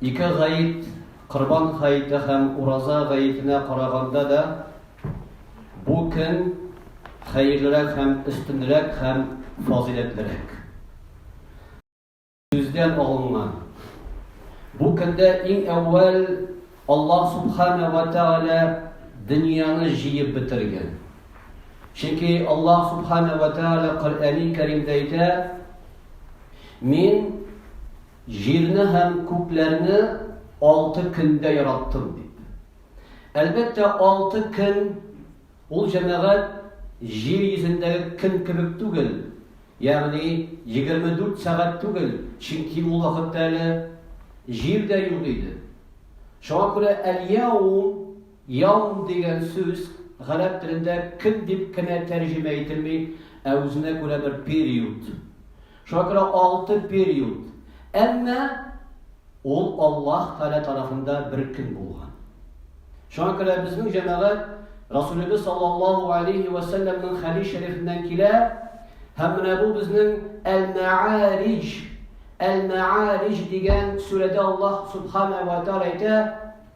Ике гает, Корбан гаете һәм Ураза гаетенә караганда да, бу көн хәерлерәк һәм өстенрәк һәм фазыйләтлерәк. Сүздән алынган. Бу көндә иң әүвәл Аллаһ Субхана ва Тәгалә дөньяны җыеп бетергән. Чөнки Аллаһ Субхана ва Тәгалә Коръәни Кәримдә әйтә, Мин Җирне һәм күкләрне алты көндә яраттым, дип. Әлбәттә, алты көн, ул, җәмәгать, җир йөзендәге көн кебек түгел, ягъни егерме дүрт сәгать түгел, чөнки ул вакытта әле җир дә юк иде. Шуңа күрә әл-яум. Яум дигән сүз гарәп телендә көн дип кенә тәрҗемә ителми, ә үзенә күрә бер период. Шуңа күрә алты период. Әмма ул Аллаһ Тәгалә тарафында бер көн булган. Шуңа күрә безнең җәмәгать Расулебез саллаллаһу алейхи ва саллямның хәдис шәрифеннән килә, һәм менә бу безнең Әл-Мәарич, Әл-Мәарич дигән сүрәдә Аллаһ субхана ва тәгалә әйтә,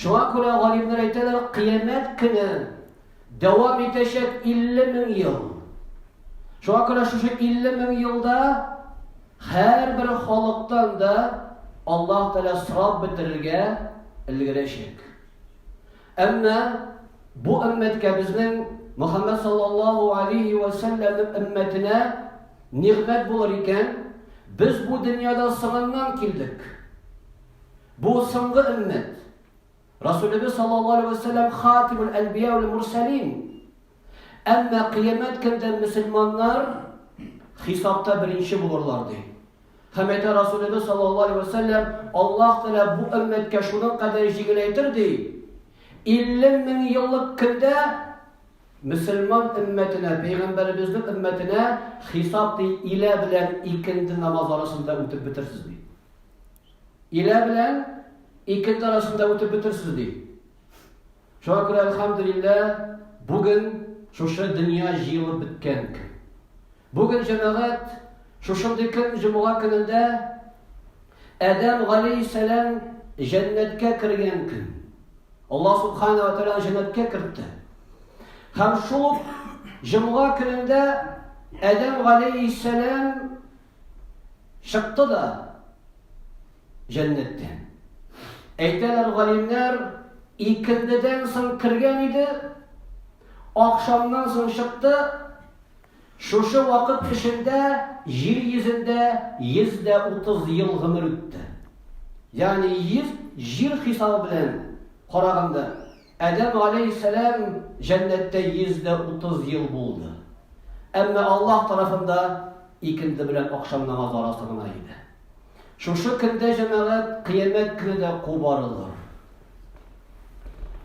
Шуңа күрә галимнәр әйтәләр, кыямәт көне дәвам итәчәк 50 мең ел. Шуңа күрә шушы 50 мең елда һәрбер халыктан да Аллаһ Тәгалә сорап бетерергә өлгерәчәк. Әмма бу өммәткә безнең Мөхәммәд саллаллаһу алейхи ва салләмнең өммәтенә нигъмәт булыр икән, без бу дөньяда сыгыннан килдек. Бу соңгы өммәт. Расулебез саллаллаһу алейһи вә сәлләм хатимул әнбия вәл мурсәлин. Әмма кыямәт көндә мөселманнар хисапта беренче булырлар ди. Һәм әйтә Расулебез саллаллаһу алейһи вә сәлләм, Аллаһ Тәгалә бу өммәткә шуның кадәр җиңеләйтер ди. 50 мең еллык көндә мөселман өммәтенә, пәйгамбәребезнең өммәтенә хисап ди илә белән икенде намаз арасында үтеп бетерсез ди. Илә белән ике ел арасында үтеп бетерсез, ди. Шуңа күрә, әлхәмдүлиллә, бүген шушы дөнья җыелып беткән көн. Бүген җәмәгать шушындый көн җомга көнендә Адәм галейһиссәлам җәннәткә кергән көн. Алла субхана ва тәгалә җәннәткә кертте. Һәм шул җомга көнендә Адәм галейһиссәлам Чыкты да җәннәттән. Әйтәләр галимнәр, икендедән соң кергән иде, ахшамнан соң чыкты. Шушы вакыт эчендә җир йөзендә 130 ел гомер үтте. Ягъни 100 җир хисабы белән караганда Адәм галәйһиссәлам җәннәттә 130 ел булды. Әмма Аллаһ тарафында икенде белән акшам намазы арасы гына иде. Шушы көндә җәмәгать кыямәт көне дә кубарылыр.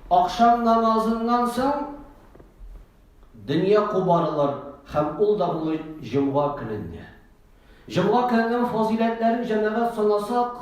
Акшам намазыннан соң дөнья кубарылыр һәм ул да булыр җомга көнендә. Җомга көненең фазиләтләрен җәмәгать санасак,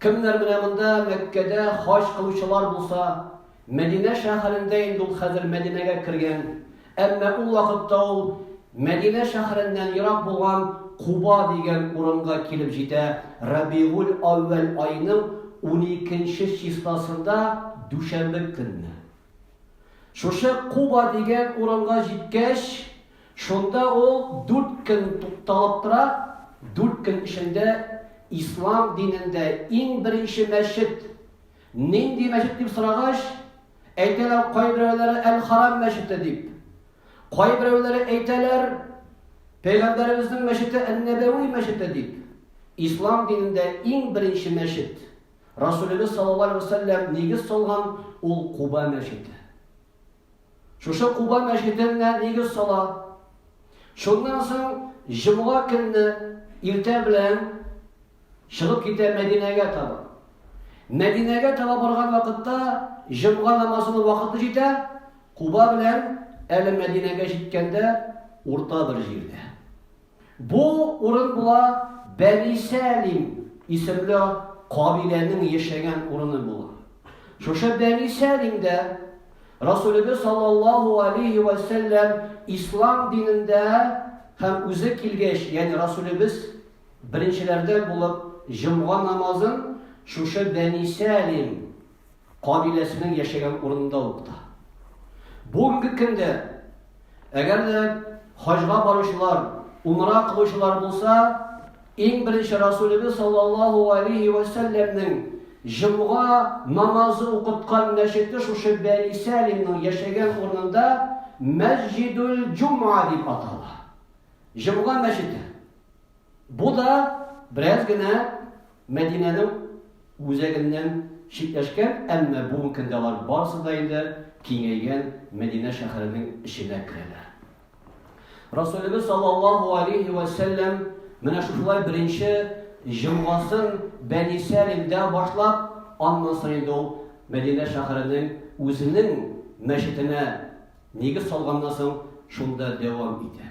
Кемнәр менә монда Мәккәдә хаҗ кылучылар булса, Мәдинә шәһәрендә инде ул хәзер Мәдинәгә кергән, әмма ул вакытта ул Мәдинә шәһәреннән ерак булган Куба дигән урынга килеп җитә, Рабигуль-әүвәл аеның уникенче числосында дүшәмбе көнне. Шушы Куба дигән урынга җиткәч, Шунда ул дүрт көн тукталып тора, дүрт көн эчендә ислам динендә иң беренче мәчет нинди мәчет дип сорагач, әйтәләр кайберәүләре Әл-Харам мәчете дип. Кайберәүләре әйтәләр Пәйгамбәребезнең мәчете Ән-Нәбәви мәчете дип. Ислам динендә иң беренче мәчет Расулебез саллаллаһу алейһи ва сәлләм нигез салган ул Куба мәчете. Шушы Куба мәчетенә нигез сала. Шуннан соң җомга көнне иртә белән чыгып китә Мәдинәгә таба. Мәдинәгә таба барган вакытта җомга намазының вакыты җитә, Куба белән әле Мәдинәгә җиткәндә урта бер җирдә. Бу урын була Бәни Сәлим исемле кабиләнең яшәгән урыны була. Шушы Бәни Сәлимдә Расулебез саллаллаһу алейхи вә сәлләм ислам динендә һәм үзе килгәч, ягъни Расулебез беренчеләрдән булып җомга намазын шушы Бәни Сәлим Кабиләсенең яшәгән урынында ук та. Бүгенге көндә, әгәр дә хаҗга баручылар, умра кылучылар булса, иң беренче Расулебез саллаллаһу алейһи вә сәлләмнең җомга намазы укыткан мәчете шушы Бәни Сәлимнең яшәгән урынында Мәсҗидүл Җумга дип атала. Җомга мәчете. Бу да бераз генә Мәдинәнең үзәгеннән читләшкән, әмма бүген көндә алар барысы да инде киңәйгән Мәдинә шәһәренең эченә керәләр. Расулебез саллаллаһу алейһи вә сәлләм менә шушылай беренче җомгасын Бәни Сәлимдә башлап, аннан соң инде ул Мәдинә шәһәренең үзенең мәчетенә нигез салганнан соң шунда дәвам итә.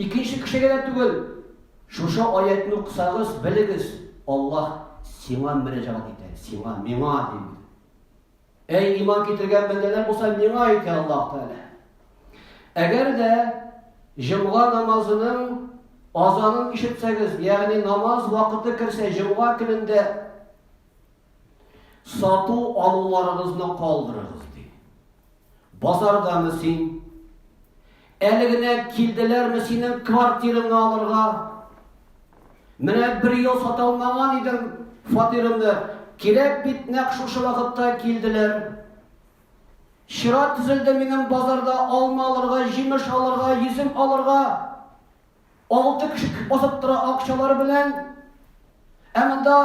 Икенче кешегә дә түгел, шушы аятны укысагыз, белегез, Аллаһ сиңа мөрәҗәгать итә, сиңа, миңа ди. Әй иман китергән бәндәләр булса, миңа әйтә Аллаһ Тәгалә. Әгәр дә җомга намазының азанын ишетсәгез, ягъни намаз вакыты керсә, җомга көнендә сату алуларыгызны калдырыгыз. Базардамы син? Әле генә килделәрме синең квартираңны алырга? Менә бер ел сата алмаган идем фатирымны. Кирәк бит нәкъ шушы вакытта килделәр. Чира төзелде минем базарда алма алырга, җимеш алырга, йөзем алырга. Алты кеше басып тора акчалары белән. Ә монда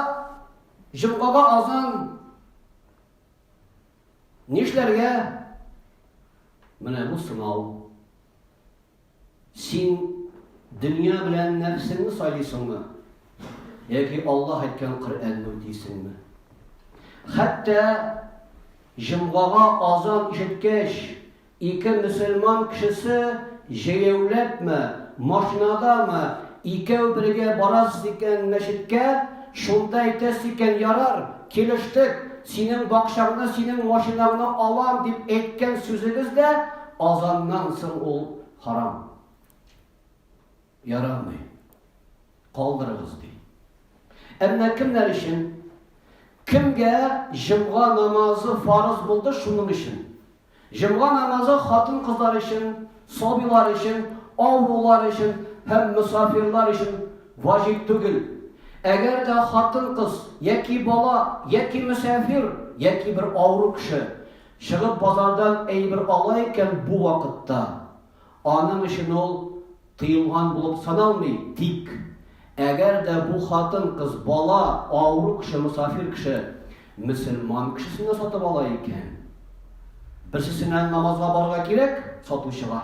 җомгага азан Нишләргә? Менә бу сынау. Син дөнья белән нәфсеңне сайлыйсыңмы? Яки Аллаһ әйткән Коръәнне үтисеңме? Хәтта җомгага азан ишеткәч, Ике мөселман кешесе җәяүләпме, машинадамы, икәү бергә барасыз икән мәчеткә, шунда әйтәсез икән, ярар, килештек, синең бакчаңны, синең машинаңны алам, дип әйткән сүзегез дә азаннан соң ул харам. Ярамый. Калдырыгыз, ди. Әмма кемнәр өчен? Кемгә җомга намазы фарыз булды шуның өчен? Җомга намазы хатын-кызлар өчен, сабыйлар өчен, авырулар өчен һәм мосафирлар өчен ваҗиб түгел. Әгәр дә хатын-кыз яки бала, яки мөсафир, яки бер авыру кеше чыгып базардан әйбер ала икән бу вакытта, Аның өчен ул тыелган булып саналмый, тик, әгәр дә бу хатын-кыз бала, авыру кеше, мосафир кеше, мөселман кешесенә сатып ала икән, берсесенә намазга барырга кирәк, сатучыга,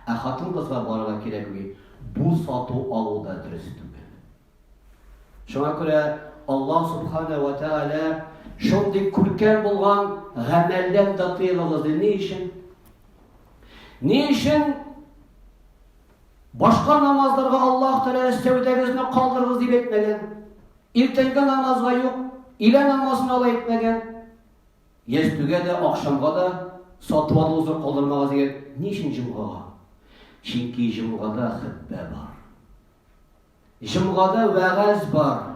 ә хатын-кызга барырга кирәкми, бу сату алу да дөрес түгел. Шуңа күрә Аллаһ Субхана ва Тәгалә шундый күркәм булган гамәлдән дә тыйгыгыз ди. Ни өчен? Ни өчен башка намазларга Аллаһ Тәгалә өстәүдәгезне калдырыгыз дип әйтмәгән? Иртәнге намазга юк, илә намазына ла әйтмәгән. Ястүгә дә, акшамга да сатып алуыгызны калдырмагыз дигән. Ни өчен җомгага? Чөнки җомгада хөтбә бар. Җомгада вәгазь бар.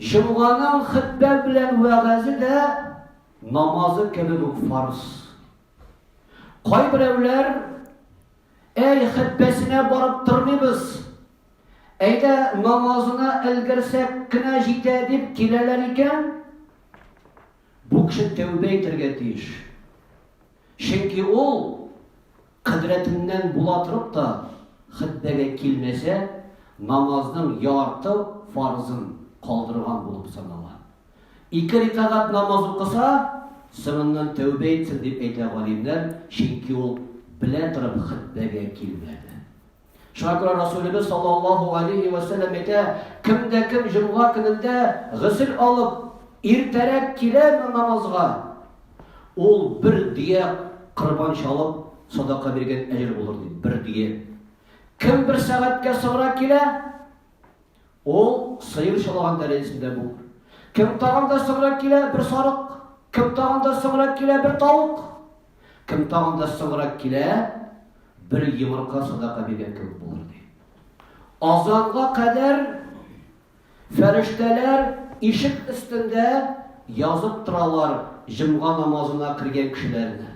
Җомганың хөтбә белән вәгазе дә намазы кебек үк фарз. Кайберәүләр әй хөтбәсенә барып тормыйбыз. Әйдә намазына өлгерсәк кенә җитә дип киләләр икән. Бу кеше тәүбә итәргә тиеш. Чөнки ул Кодрәтеннән була торып та хөтбәгә килмәсә, намазның ярты фарызын калдырган булып санала. Ике рикагать намаз укыса, соңыннан тәүбә итсен, дип әйтә галимнәр, чөнки ул белә торып хөтбәгә килмәде. Шуңа күрә Расулебез саллаллаһу алейхи ва сәлләм әйтә, кем дә кем җомга көнендә гысел алып, иртәрәк киләме намазга, ул бер дия корбан чалып, садака биргән әҗер булыр ди, бер дия. Кем бер сәгатькә соңрак килә, Ул сыер чалаган тәрәзәсендә булыр. Кем тагын да соңрак килә, бер сарык. Кем тагын да соңрак килә, бер тавык. Кем тагын да соңрак килә, бер йомырка садака биргән кебек булыр, ди. Азанга кадәр фәрештәләр ишек өстендә язып торалар җомга намазына кергән кешеләрне.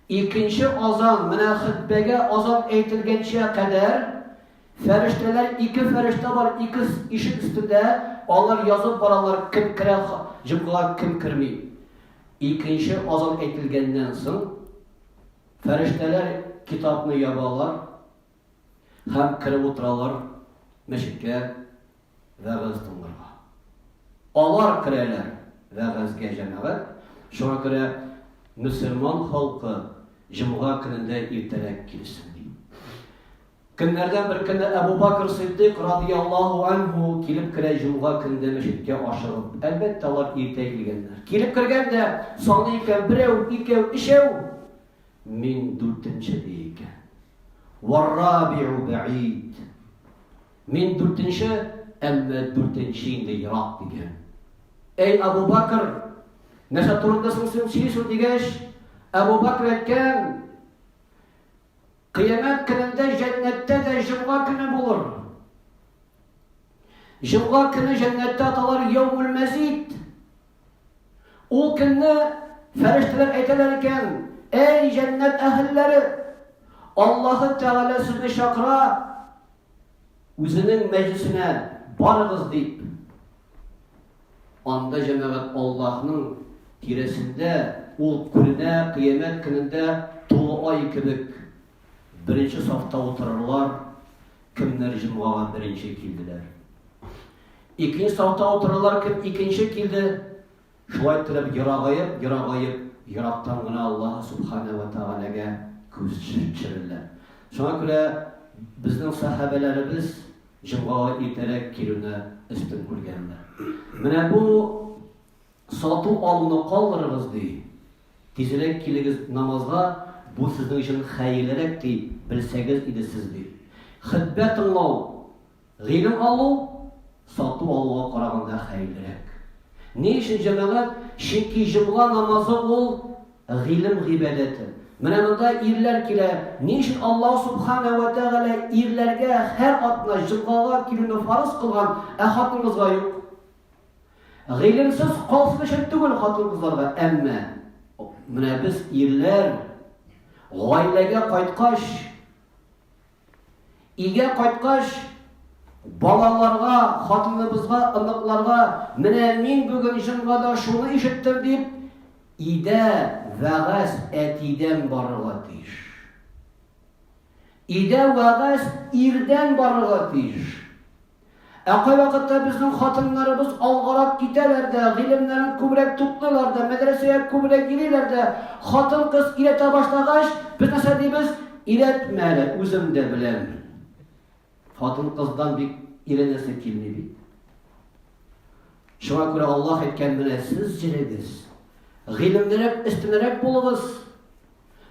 Икенче азан, менә хөтбәгә азан әйтелгәнчә кадәр, фәрештәләр, ике фәрештә бар, ике ишек өстендә, алар язып баралар, кем керә җомгага, кем керми. Икенче азан әйтелгәннән соң, фәрештәләр китапны ябалар, һәм кереп утыралар мәчеткә вәгазь тыңларга. Алар керәләр вәгазьгә җәмәгать, шуңа күрә мөселман халкы җомга көнендә иртәрәк килсен ди. Көннәрдән бер көнне Әбу Бакр Сиддык радияллаһу анһу килеп керә җомга көнендә мәчеткә ашыгып. Әлбәттә, алар иртә килгәннәр. Килеп кергәндә, саный икән, берәү, икәү, өчәү. Мин дүртенче, ди икән. Варрабиу бәид. Мин дүртенче, әмма дүртенче инде ерак, дигән. Әй, Абу Бакр, нәрсә турында соң син сөйлисең дигәч, Абу Бакр әйткән, Кыямәт көнендә җәннәттә дә җомга көне булыр. Җомга көне җәннәттә аталар яумул мәзид Ул көнне фәрештәләр әйтәләр икән, Әй, җәннәт әһелләре! Аллаһы Тәгалә сезне чакыра үзенең мәҗлисенә барыгыз дип. Анда җәмәгать Аллаһның тирәсендә ул күренә кыямәт көнендә тулы ай кебек беренче сафта утырырлар, кемнәр җомгага беренче килделәр. Икенче сафта утырулар кем икенче килде, шулай иттереп ерагаеп, ерагаеп, ерактан гына Аллаһ Субхана вә Тәгаләгә күз төшерәләр. Шуңа күрә безнең сәхабәләребез җомгага иртәрәк килүне өстен күргәннәр. Менә бу сату алуны калдырыгыз ди. Тизрәк килегез намазга, бу сезнең өчен хәерлерәк ди, белсәгез иде сез ди. Хәтбә тыңлау Гыйлем алу сату алуга караганда хәерлерәк. Ни өчен, җәмәгать? Чөнки җомга намазы ул гыйлем гыйбадәте. Менә монда ирләр килә. Ни өчен Аллаһ субхана ва тәгалә ирләргә һәр атна җомгага килүне фарыз кылган, ә хатын-кызга юк? Гыйлемсез калсын өчен түгел хатын-кызларга, әмма менә без ирләр гаиләгә кайткач, Өйгә кайткач, балаларга, хатыныбызга, оныкларга, менә мин бүген җомга да шуны ишеттем дип, идә вәгазь әтидән барырга тиеш. Идә вәгазь ирдән барырга тиеш. Ә кайвакытта безнең хатыннарыбыз алгарак китәләр дә, гыйлемнәрен күбрәк туплыйлар да, мәдрәсәгә күбрәк йөриләр дә. Хатын-кыз өйрәтә башлагач, без нәрсә дибез? Өйрәтмә әле, үзем дә беләм. Хатын-кыздан бик өйрәнәсе килми бит. Шуңа күрә Аллаһ әйткән менә сез җирегез. Гыйлемлерәк, өстенрәк булыгыз.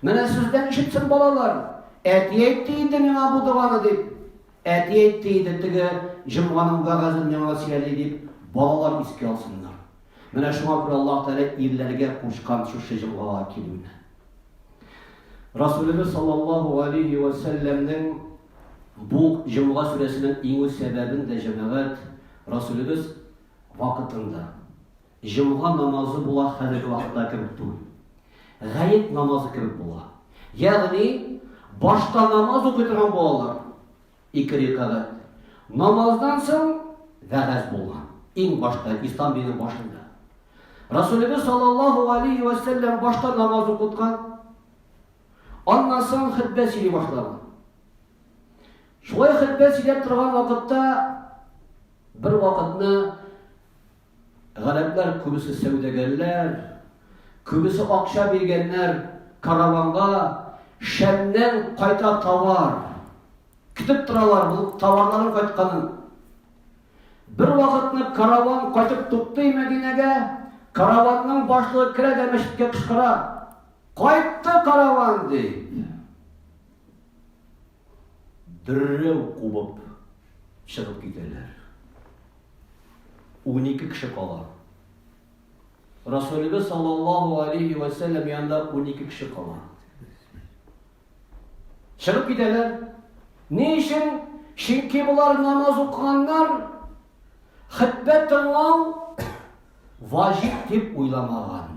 Менә сездән ишетсен балалар. Әти әйтте инде миңа бу доганы дип. Әти әйтте иде, теге җомганың вәгазен миңа сөйли дип, балалар искә алсыннар. Менә шуңа күрә Аллаһ Тәгалә ирләргә кушкан шушы җомгага килүне. Расулебез саллаллаһу галейһи ва сәлләмнең бу җомга сүрәсенең иңү сәбәбен дә җәмәгать Расулебез вакытында Җомга намазы була хәзерге вакытта кебек түгел. Гает намазы кебек була. Ягъни, башта намаз укый торган булалар. Ике рикагать. Намаздан соң вәгазь булган. Иң башта Ислам диненең башында. Расулебез саллаллаһу алейхи ва саллям башта намаз укыткан. Аннан соң хәтбә сөйли башлаган. Шулай хәтбә сөйләп торган вакытта бер вакытны Гарәпләр күбесе сәүдәгәрләр, күбесе акча биргәннәр караванга, Шәмнән кайта товар. Көтеп торалар бу товарларын кайтканын. Бер вакытны караван кайтып туктый Мәдинәгә, караванның башлыгы керә дә мәчеткә кычкыра, Кайтты караван! дип. Дөррәү кубып чыгып китәләр. Унике кеше кала. Расулебез саллаллаху алейхи вә сәлләм янында унике кеше кала. Чыгып китәләр. Ни өчен? Чөнки болар намаз укыганнар, хәтбә тыңлау ваҗиб дип уйламаган.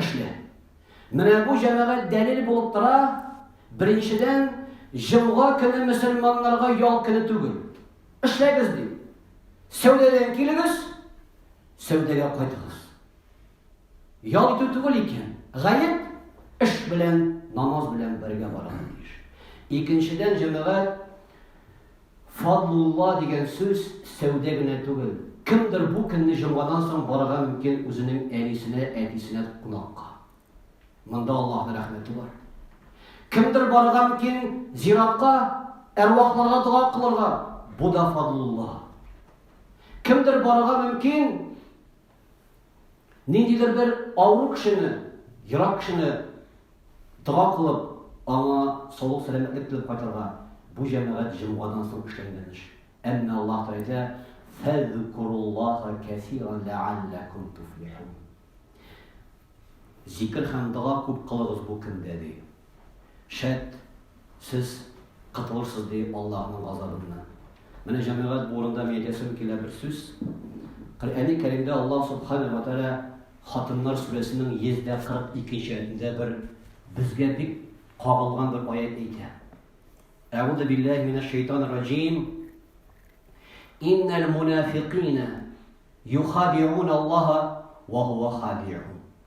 Эшлә. Менә бу җәмәгать дәлил булып тора. Беренчедән, җомга көне мөселманнарга ял көне түгел. Эшләгез ди. Сәүдәдән килегез, сәүдәгә кайтыгыз. Ял итү түгел икән. Гаеп эш белән, намаз белән бергә барырга тиеш. Икенчедән, җәмәгать Фадлулла дигән сүз сәүдә генә түгел. Кемдер бу көнне җомгадан соң барырга мөмкин үзенең әнисенә, әтисенә кунакка. Монда Аллаһның рәхмәте бар. Кемдер барырга мөмкин зиратка, әрвахларга дога кылырга. Бу да фадлулла. Кемдер барырга мөмкин Ниндидер бер авыру кешене, ерак кешене дога кылып, аңа саулык сәламәтлек теләп кайтырга, бу җәмәгать җомгадан соң эшләнгән эш. Әмма Аллаһ Тәгалә әйтә, Фәзкуруллаһа кәсиран ләалләкум туфлихун. Зикер һәм дога күп кылыгыз бу көндә, ди. Шәт, сез котылырсыз, ди Аллаһының газабыннан. Менә, җәмәгать, бу урында мин әйтәсем килә бер сүз. Коръәни Кәримдә Аллаһ Субханәһү вә Тәгалә Хатыннар сүрәсенең 142 нче аятендә бер безгә бик кагылган бер аят әйтә. Әгуду биллаһи минәш шайтанир раҗим. Иннәл мунафикина юхадиун Аллаһа ва хуа хадиун.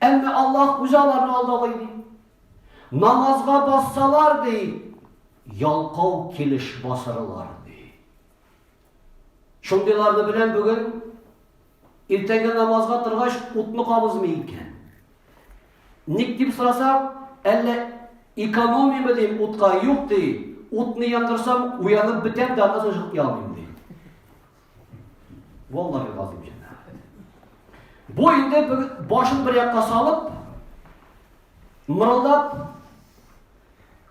Әмма Аллаһ үзе аларны алдагый, ди. Намазга бассалар, ди, ялкау килеш басырылар, ди. Шундыйларны белән бүген иртәнге намазга торгач утны кабызмый икән. Ник дип сорасам, әллә экономимы дим утка, юк ди. Утны яндырсам, уянып бетәм дә, аннан соң чыгып ди. Валлаһи газим җәмәгать. Бу инде бер башын бер якка салып, мырылдап,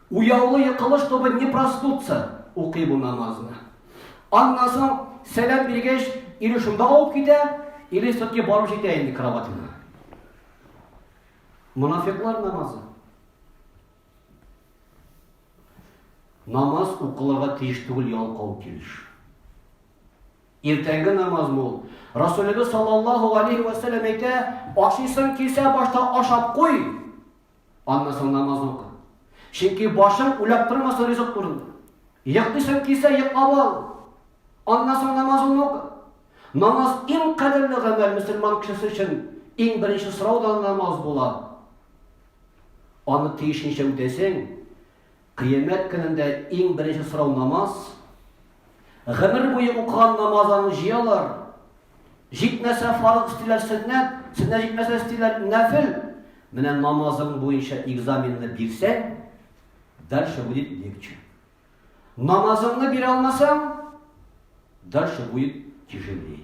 уяулы йокылыш тобы не проснутся, укый бу намазны. Аннан соң сәлам биргәч, или шунда авып китә, или все-таки барып җитә инде кроватына. Мунафиклар намазы. Намаз укылырга тиеш түгел ялкау килеш. Иртәнге намаз ул. Расулебез саллаллаху алейхи ва саллям әйтә, ашыйсың килсә башта ашап куй. Аннан соң намаз укы. Чөнки башың үләп тормаса ризык турында. Йоклыйсың килсә йоклап ал. Аннан соң намазыңны укы. Намаз иң кадерле гамәл мөселман кешесе өчен иң беренче сорау да намаз була. Аны тиешенчә үтәсең. Кыямәт көнендә иң беренче сорау намаз. Гомер буе укыган намазларны җыялар. Җитмәсә фарыз эстиләр сөннәт, сөннәт җитмәсә эстиләр нәфел. Менә намазың буенча экзаменны бирсәң, дальше будет легче. Намазыңны бирә алмасаң, дальше будет тяжелее.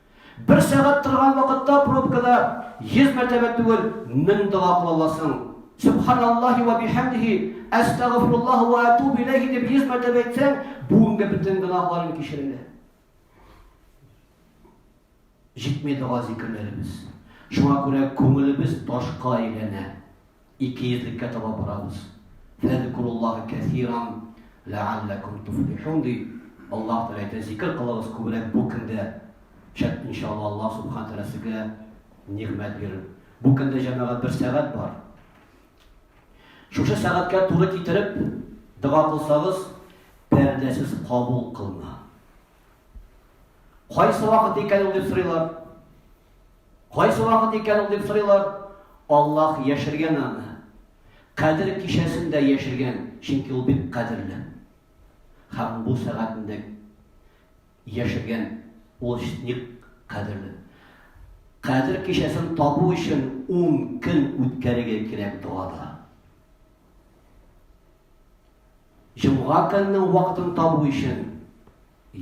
Бер сәгать торган вакытта пробкада 100 мәртәбә түгел, 1000 дога кыла аласың. Субханаллахи ва бихәмдихи, әстәгъфируллаһ ва атуб иләйһи дип 100 мәртәбә әйтсәң, бүгенге бөтен гөнаһларың кичерелә. Җитми дога зикерләребез. Шуңа күрә күңелебез ташка әйләнә. Икейөзлеккә таба барабыз. Фәзкуруллаһа кәсиран ләәлләкүм туфлихун, ди. Аллаһ Тәгалә әйтә, зикер кылыгыз күбрәк бу көндә. Шәт, иншалла, Аллаһ Субхана Тәгалә сезгә нигъмәт бирер. Бу көндә, җәмәгать, бер сәгать бар. Шушы сәгатькә туры китереп дога кылсагыз, пәрдәсез кабул кылына. Кайсы вакыт икән ул дип сорыйлар. Кайсы вакыт икән ул дип сорыйлар. Аллаһ яшергән аны. Кадер кичәсендә яшергән, чөнки ул бик кадерле. Һәм бу сәгатендә яшергән ул ник кадерле. Кадер кичәсен табу өчен 10 көн үткәрергә кирәк догада. Җомга көненең вакытын табу өчен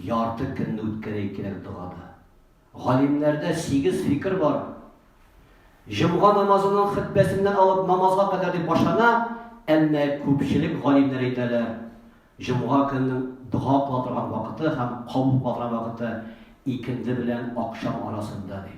ярты көнне үткәрәе кирәк догада. Галимнәрдә сигез фикер бар. Җомга намазының хөтбәсеннән алып намазга кадәр дип башлана, әмма күпчелек галимнәр әйтәләр, җомга көненең дога кыла торган вакыты һәм кабул кыла торган вакыты икенде белән акшам арасында, ди.